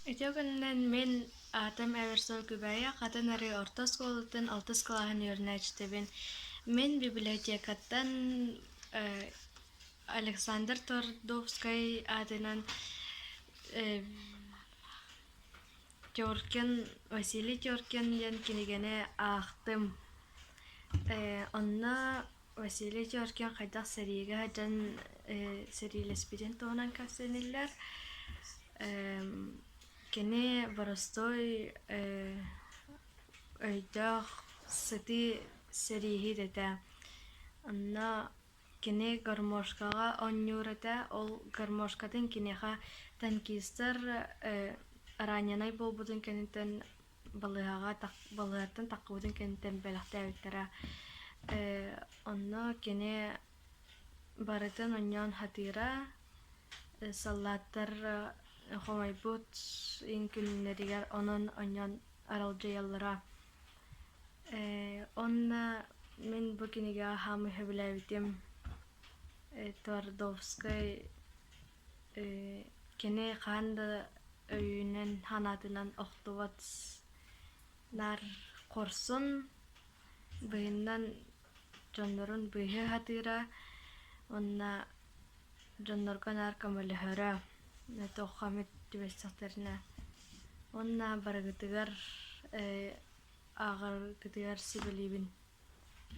Ити күнүнэн мин аатым эбэр сыл күбэйэ хатын арыы орто оскуолатын алтыс кылааһын үөрэнээччитэбин. Мин библиотекаттан э Александр Тордовскай аатынан э Теркин Василий Теркин диэн кинигэни аахтым. Э онно Василий Георгиев хайдах сэриигэ сылдьан сэриилэспитин туһунан кэпсэниллэр. Кини боростуой өйдөөх сытыы сэрииһит этэ. Онно кини гармошкаҕа оонньуур этэ. Ол гармошкатын киниэхэ танкистар раненый буолбутун кэнниттэн балыыһаҕа балыыһаттан таххыбытын кэнниттэн бэлэхтээбиттэрэ ээ онно кини барытын онньоон сатыыра саллааттар хомойбут иҥ күннэригэр онон онньоон аралдьыйаллара ээ онно мин бу кинигэҕэ хаамыы сөбүлээбитим э твардовскай кини хаан да өйүнэн санаатынан охтубат наар хорсун быһыннан дьоннорун быыһыы сатыыра уонна дьоннорго наар көмөлөһөрө туохха эмит түбэстэхтэринэ уонна барыгытыгар ааҕаргытыгар сүбэлиибин